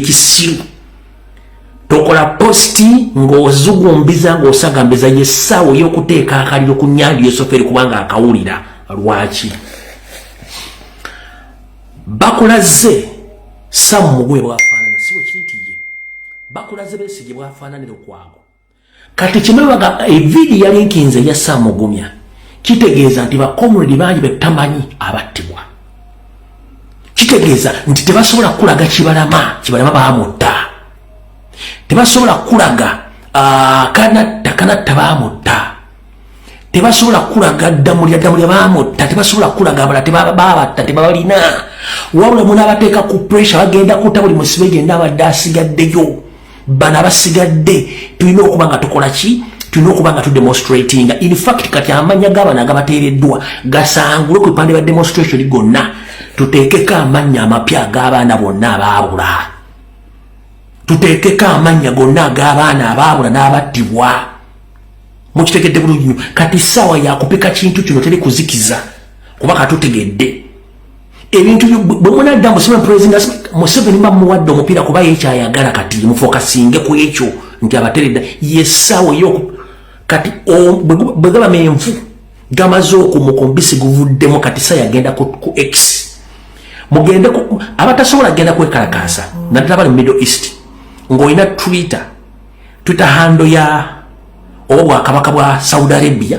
ekisiru tokola posti ng'ozugumbiza ng'osagambiza yessaawo y'okuteeka akaliro ku nyanja yosoferi kubanga akawulira lwaki bakulaze samu mugwe bwafaanana siwe kiri nti ye bakulaze besigye bwafaananira okwago kati kimwebaga eviidi yalinkinze eya saamugumya kitegeeza nti bakomredi bangi betamanyi abattibwa kitegeeza nti tebasobola kukulaga kibalama kibalama baamutta tebasobola kukulaga ah, kanatta kanatta baamutta tebasobola kukulaga ddamulya ddamulya baamutta tebasobola kukulaga abala tebababatta tebabalina wabula munaabateeka ku pressure bagenda kuta buli musibe gyenna abadde asigaddeyo bano abasigadde tulina okuba nga tukola ki tulina okuba nga tudemonstratinga infact kati amanya gabano agabateereddwa gasangule ku bipande bya demonstration gonna tuteekeko amannya amapya ag'abaana bonna abaabula tuteekeko amannya gonna ag'abaana abaabula n'abattibwa mukitegedde bulungi nyo kati saawa yakupika kintu kino teri kuzikiza kuba katutegedde ebintu bwemunadda musime president museveni mba muwadde omupiira kuba yekyayagala kati mufokasinge ku ekyo nti abateredda yesaawo yo kati bwe gaba menvu gamaze okumuka omubisi guvuddemu kati sa yagenda ku x mugende abatasobola genda kwekalakaasa naddala bali mu middle east ng'olina twitter twitter hando ya oba bwakabaka bwa saudi arabia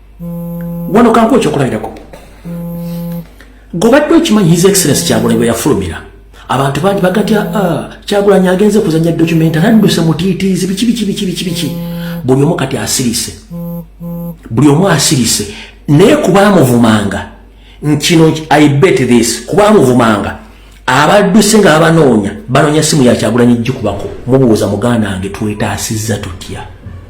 wano kankuwa ekyokulabirako gobadde okimanyi his excellence kyagulanyi bwe yafulumira abantu bangi bagatya ah, kyagulanyi agenze kuzanya document anadduse mutiitiizi biki biki biki biki biki buli omu kati asirise buli omu asirise naye kubaamuvumanga nkino i bet this kubaamuvumanga abadduse nga abanoonya banoonya simu yakyagulanyi jjikubako mubuuza muganda wange twetaasizza tutya